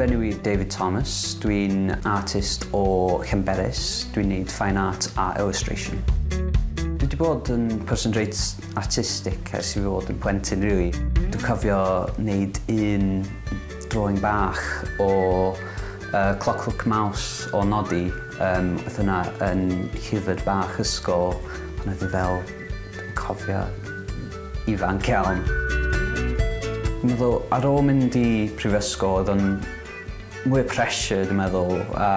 Fy enw i David Thomas, dwi'n artist o Llanberis, dwi'n neud fine art a illustration. Dwi wedi bod yn person reit artistic ers i fi fod yn plentyn, really. Dwi'n cofio wneud un drawing bach o uh, Clockwork Mouse o Nodi. Um, oedd hwnna yn llyfr bach ysgol pan oedd hi fel, dwi'n cofio, ifanc iawn. Dwi'n meddwl ar ôl mynd i prifysgol oedd o'n mwy o pressure dwi'n meddwl a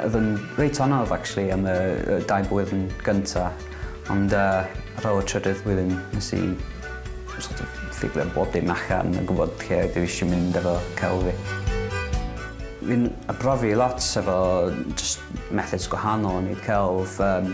oedd o'n reit anodd actually am y dau blwyddyn gynta ond yy ar ôl y trydydd blwyddyn nes i sort of ffigro bob dim allan a gwybod lle dwi eisiau mynd efo celf fi. Fi'n arbrofi lot efo jyst methods gwahanol o neud celf yym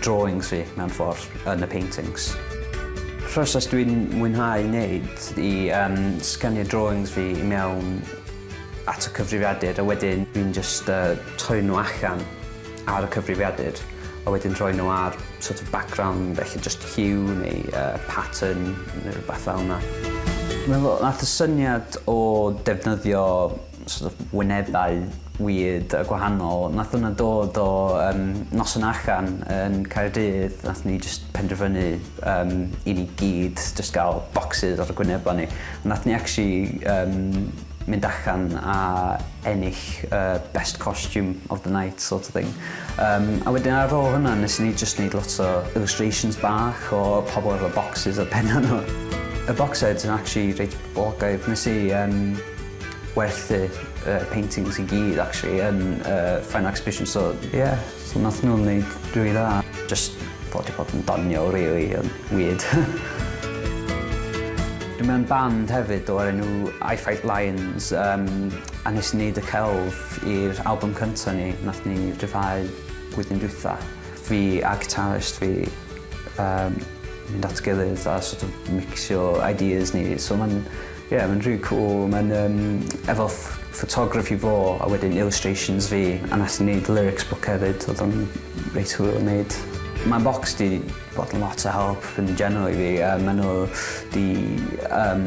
drawings fi mewn ffordd yn y paintings. Proses dwi'n mwynhau wneud i um, sgynnu drawings fi i mewn at y cyfrifiadur a wedyn dwi'n just uh, troi nhw allan ar y cyfrifiadur a wedyn rhoi nhw ar sort of background, felly just hue neu uh, pattern neu rhywbeth fel yna. Mae'n nath y syniad o defnyddio sort of wynebau weird a gwahanol. Nath hwnna dod o um, noson allan yn Caerdydd, nath ni just penderfynu um, i ni gyd just gael boxes ar y gwynebau ni. Nath ni actually um, mynd allan a ennill uh, best costume of the night sort of thing. Um, a wedyn ar ôl hwnna nes ni just neud lot o illustrations bach o pobl efo boxes ar penna nhw. Y box sets yn actually reit boblogaidd. Nes i um, werthu y paintings i gyd actually yn y final exhibition so ie, so nath nhw wneud rili dda. Jyst fo 'di bod yn doniol rili yn weird. Dwi mewn band hefyd o'r enw I Fight Lions yym a nes i neud y celf i'r albwm cynta ni nath ni ryddhau blwyddyn dwytha. Fi a guitarist fi yym mynd at gilydd a sort of micsio ideas ni so ma'n Ie mae'n rili cŵl, mae'n yym efo ff- photography fo a wedyn illustrations fi a nath ni neud lyrics book hefyd odd o'n reit hwyl i neud. Mae Bocs 'di bod yn lot o help yn general i fi a ma' nhw 'di yym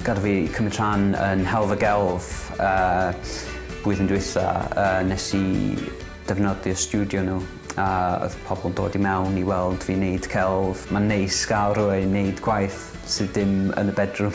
gadel fi cymryd rhan yn Helfa Gelf yy blwyddyn dwetha yy nes i defnyddio stiwdio nhw a oedd pobl yn dod i mewn i weld fi neud celf. Mae'n neis gael rhywun neud gwaith sydd dim yn y bedroom.